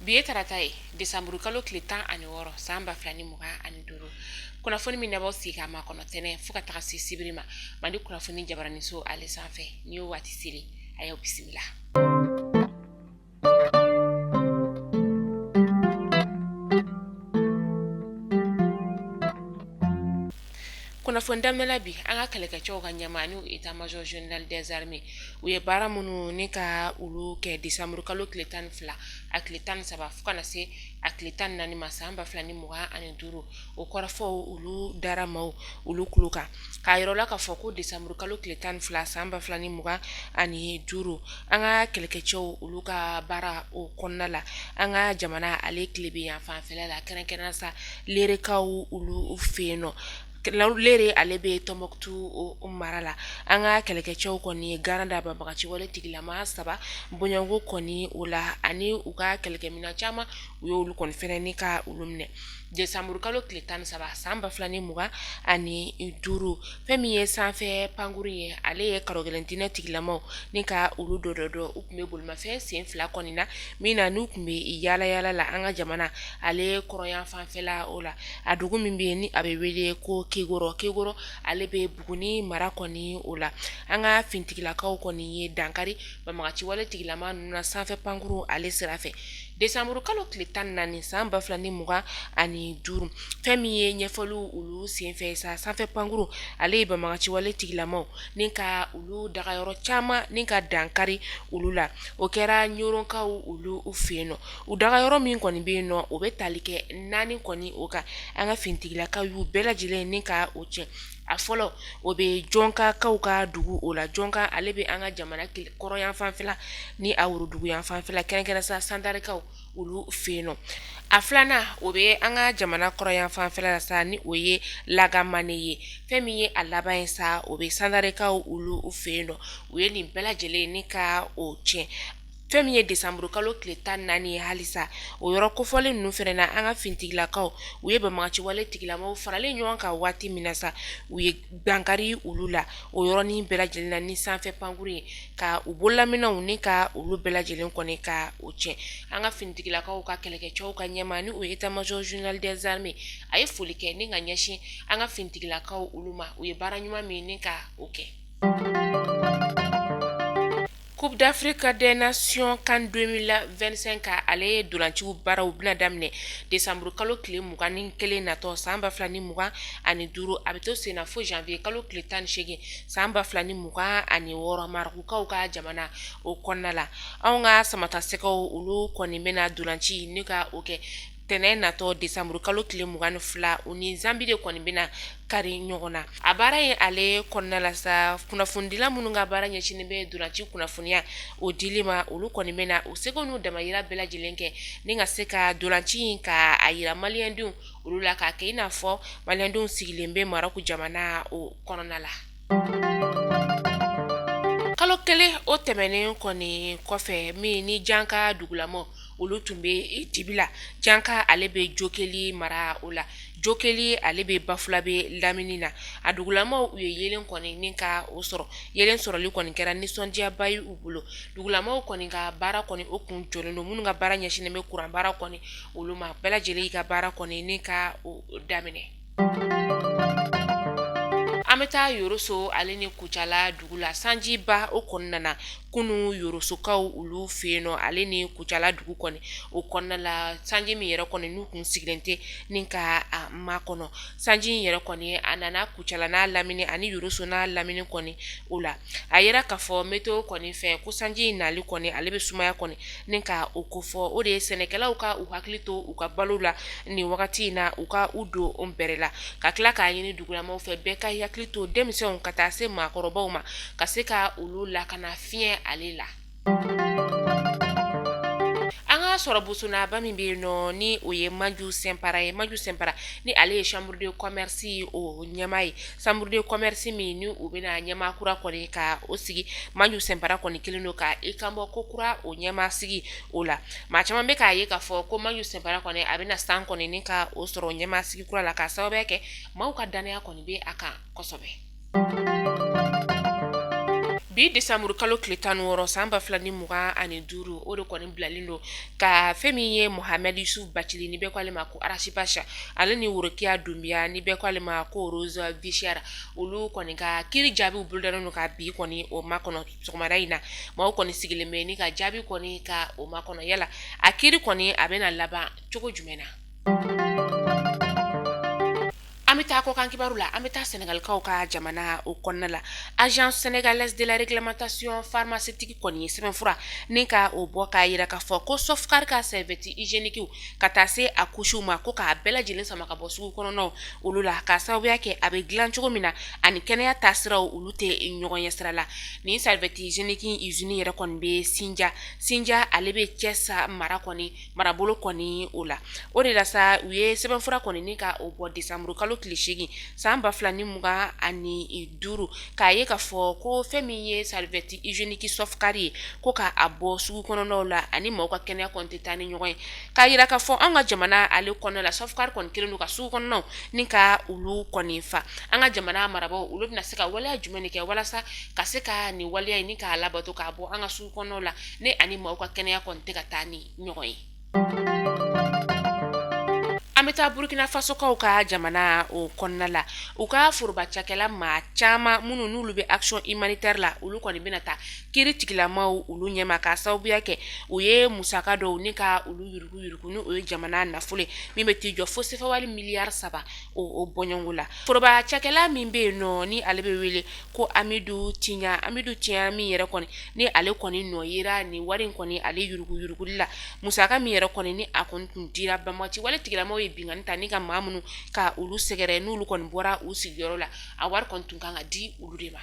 bi ye tarata ye desanburu kalo tile tan ani wɔɔrɔ san ba fila ni mugan ani duuru kunnafoni min n'aw b'aw sigi k'a makɔnɔ tɛnɛn fo ka taga se sibiri ma mali kunnafoni jabaraniso ale sanfɛ ni y'o waati seli a y'aw bisimila kunnafoni daminɛ la bi an ka kɛlɛkɛcɛw ka ɲɛmaa n'o ye état major général des armées u ye baara minnu ni ka olu kɛ desanburu kalo tile tan ni fila a tile tan ni saba fo ka na se a tile tan ni naani ma san ba fila ni mugan ani duuru o kɔrɔfɔw olu dara maaw olu tulo kan k'a yir'u la k'a fɔ ko desanburu kalo tile 12 san 2025 an ka kɛlɛkɛcɛw olu ka baara o kɔnɔna la an ka jamana ale tilebinyanfanfɛla la kɛrɛnkɛrɛnnenya sa lerekaw olu fɛ yen nɔ lere ale bɛ Tɔnbukutu mara la an ka kɛlɛkɛcɛw kɔni ye garan da banbagaciwale tigilama saba bɔɲɔgɔnko kɔni o la ani u ka kɛlɛkɛminɛn caman u y'olu kɔni fɛnɛ ni ka olu minɛ Desanburukalo tile tan ni saba san ba fila ni mugan ani duuru fɛn min ye sanfɛ pankurun ye ale ye karogɛlɛntinɛ tigilamaw ni ka olu dɔdɔ u tun bɛ bolimafɛn sen fila kɔni na min na n'u tun bɛ yaalayaala la an ka jamana ale kɔrɔnyanfanfɛla o la a dugu min bɛ yen ni a bɛ wele ko kekoro kekoro ale bɛ buguni mara kɔni o la an ka finitigilakaw kɔni ye dankari banbagaciwale tigilama ninnu na sanfɛ pankurun ale sira Desanburu kalo tile tan ni naani san ba fila ni mugan ani duuru fɛn min ye ɲɛfɔliw olu senfɛ sa sanfɛ pankurun ale ye banbagaciwale tigilamaw ni ka olu dagayɔrɔ caman ni ka dankari olu la o kɛra ɲɔrɔnkaw olu fɛ yen nɔ u dagayɔrɔ min kɔni bɛ yen nɔ o bɛ tali kɛ naani kɔni o kan an ka finitigilakaw y'u bɛɛ lajɛlen ni ka o tiɲɛ a fɔlɔ o bɛ jɔnkakaw ka dugu o la jɔnka ale bɛ an ka jamana kɔrɔnyanfanfɛla ni a woroduguyanfanfɛla kɛrɛnkɛrɛn sa sandarikaw olu fɛ yen nɔ a filanan o bɛ an ka jamana kɔrɔnyanfanfɛla la sa ni o ye lagamane ye fɛn min ye a laban ye sa o bɛ sandarikaw olu fɛ yen nɔ u ye nin bɛɛ lajɛlen ni ka o tiɲɛ fɛn min ye desanburukalo tile tan ni naani ye halisa o yɔrɔ kofɔlen ninnu fɛnɛ na an ka finitigilakaw u ye banbagaciwale tigilamaw faralen ɲɔgɔn kan waati min na sa u ye dankari olu la o yɔrɔ nin bɛɛ lajɛlen na ni sanfɛ pankurun ye ka u bololaminɛnw ni ka olu bɛɛ lajɛlen kɔni ka o tiɲɛ an ka finitigilakaw ka kɛlɛkɛcɛw ka ɲɛmaa ni o ye état major général des armées a ye foli kɛ ni ka ɲɛsin an ka finitigilakaw olu ma u ye baara ɲuman min ni ka o kɛ Coupe d'Afrique des nations can 2025 ale ye ntolanciw baaraw bɛna daminɛ décembre kalo tile mugan ni kelen natɔ san ba fila ni mugan ani duuru a bɛ to sen na fo janvier kalo tile tan ni seegin san ba fila ni mugan ani wɔɔrɔ marɔkukaw ka jamana o kɔnɔna la anw ka samatasɛgɛw olu kɔni bɛna ntolanci nin ka o kɛ tɛnɛ natɔ décembre kalo tile 22 u ni zanbi de kɔni bɛna kari ɲɔgɔn na a baara ye ale kɔnɔna la sa kunnafonidila minnu ka baara ɲɛsinnen bɛ ntolanci kunnafoniya o dili ma olu kɔni bɛna u seko n'u damayira bɛɛ lajɛlen kɛ ni ka se ka ntolanci in ka a yira maliyɛndenw olu la k'a kɛ i n'a fɔ maliyɛndenw sigilen bɛ Marɔku jamana o kɔnɔna la kalo kelen o tɛmɛnen kɔni kɔfɛ min ni janka dugulamaw olu tun bɛ dibi la janka ale bɛ jokeli mara o la jokeli ale bɛ bafulabɛ lamini na a dugulamaw u ye yeelen kɔni ni ka o sɔrɔ yeelen sɔrɔli kɔni kɛra nisɔndiyaba ye u bolo dugulamaw kɔni ka baara kɔni o kun jɔlen don minnu ka baara ɲɛsinnen bɛ kuranbara kɔni olu ma bɛɛ lajɛlen ka baara kɔni ni ka o daminɛ An bɛ taa yɔrɔso ale ni kucala dugu la sanjiba o kɔni nana kunun yɔrɔsokaw olu fɛ yen nɔ ale ni kucala dugu kɔni o kɔnɔna la sanji min yɛrɛ kɔni n'u tun sigilen tɛ ni ka a makɔnɔ sanji in yɛrɛ kɔni a nana kucala n'a lamini ani yɔrɔso n'a lamini kɔni o la a yira k'a fɔ météo kɔni fɛ ko sanji in nali kɔni ale bɛ sumaya kɔni ni ka o kofɔ o de ye sɛnɛkɛlaw ka u hakili to u ka balo la nin wagati in na u ka u don o bɛrɛ la ka tila k'a ɲini dugulamaw fɛ bɛɛ ka i hakili to denmisɛnw ka taa se maakɔrɔbaw ma ka se ka olu lakana fiɲɛ ale la An ka sɔrɔ bosonaba min bɛ yen nɔ ni o ye maju sɛnpara ye maju sɛnpara ni ale ye chambre de commerce o ɲɛmaa ye chambre de commerce min ni u bɛna ɲɛmaa kura kɔni ka o sigi maju sɛnpara kɔni kelen don ka i kanbɔ ko kura o ɲɛmaa sigi o la maa caman bɛ k'a ye k'a fɔ ko maju sɛnpara kɔni a bɛna san kɔni ni ka o sɔrɔ ɲɛmaa sigi kura la k'a sababuya kɛ maaw ka dannaya kɔni bɛ a kan kosɛbɛ bi disamuru kalo tile tan wɔɔrɔ san ba fila ni mugan ani duuru o de kɔni bilalen don ka fɛn min ye muhamɛdi yusufu bacili ni bɛɛ k'ale ma ko Ras Bath ale ni worokiya dunbiya ni bɛɛ k'ale ma ko Rose vie chère olu kɔni ka kiiri jaabiw bolodalen don ka bi kɔni o makɔnɔ sɔgɔmada in na maaw kɔni sigilen bɛ ni ka jaabi kɔni ka o makɔnɔ yala a kiiri kɔni a bɛna laban cogo jumɛn na An bɛ taa kɔkan kibaru la an bɛ taa sɛnɛgalikaw ka jamana o kɔnɔna la agence sénégalaise de la réglementation pharmaceutique kɔni ye sɛbɛnfura ni ka o bɔ k'a yira k'a fɔ ko Softcare ka serviette hygiénique ka taa se a couchew ma ko k'a bɛɛ lajɛlen sama ka bɔ sugu kɔnɔnaw olu la k'a sababuya kɛ a bɛ dilan cogo min na ani kɛnɛya taasiraw olu tɛ ɲɔgɔn ye sira la ni serviette hygiénique usine yɛrɛ kɔni bɛ Sindia Sindia ale bɛ Thiès mara kɔni marabolo kɔni o la o de la sa u ye sɛbɛnfura kɔni ni ka o bɔ desanburu kalo tile seegin san ba fila ni mugan ani duuru k'a ye k'a fɔ ko fɛn min ye serviette hygiénique Softcare ye ko k'a bɔ sugu kɔnɔnaw la a ni maaw ka kɛnɛya kɔni tɛ taa ni ɲɔgɔn ye k'a yira k'a fɔ an ka jamana ale kɔnɔna la Softcare kɔni kɛlen don ka sugu kɔnɔnaw ni ka olu kɔni fa an ka jamana marabagaw olu bɛna se ka waleya jumɛn kɛ walasa ka se ka nin waleya in ni k'a labato k'a bɔ an ka kɔnɔnaw la ni a ni maaw ka kɛnɛya kɔni tɛ ka taa ni ɲɔgɔn ye an bɛ taa burukinafasokaw ka jamana o kɔnɔna la u ka foroba cakɛla maa caman minnu n'olu bɛ action humanitaire la olu kɔni bɛna taa kiri tigilamaw olu ɲɛma k'a sababuya kɛ u ye musaka dɔw ni ka olu yurugu yurugu ni o ye jamana nafolo min bɛ t'i jɔ fo sefawari miliyari saba o o bɔɲɔngo la foroba cakɛla min bɛ yen nɔ ni ale bɛ wele ko Amidu Tiɲan Amidu Tiɲan min yɛrɛ kɔni ni ale kɔni nɔ yera ni wari in kɔni ale yuruguyuruguli la musaka min yɛrɛ kɔni ni a kɔni tun dira banbaganci wale tigilamaw ye binkanni ta ni ka maa minnu ka olu sɛgɛrɛ n'olu kɔni bɔra u sigiyɔrɔ la a wari kɔni tun kan ka di olu de ma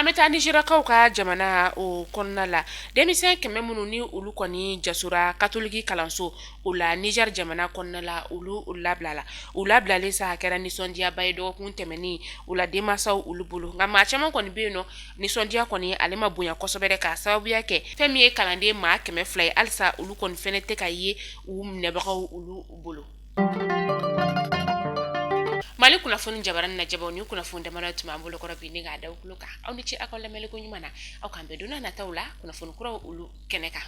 an bɛ taa nizeriyakaw ka jamana o kɔnɔna la denmisɛn kɛmɛ minnu ni olu kɔni jasora katoliki kalanso o la Niger jamana kɔnɔna la olu labilala u labilalen sa a kɛra nisɔndiyaba ye dɔgɔkun tɛmɛnen o la denmansaw olu bolo nka maa caman kɔni bɛ yen nɔ nisɔndiya kɔni ale ma bonya kosɛbɛ k'a sababuya kɛ fɛn min ye kalanden maa kɛmɛ fila ye halisa olu kɔni fana tɛ ka ye u minɛbagaw olu bolo mali kunnafoni jabaranin lajɛbaw nin kunnafoni damanin tun b'an bolo kɔrɔ bi ni k'a da aw tulo kan aw ni ce aw ka lamɛnliko ɲuman na an ka bɛn don nataw la kunnafoni kuraw olu kɛnɛ kan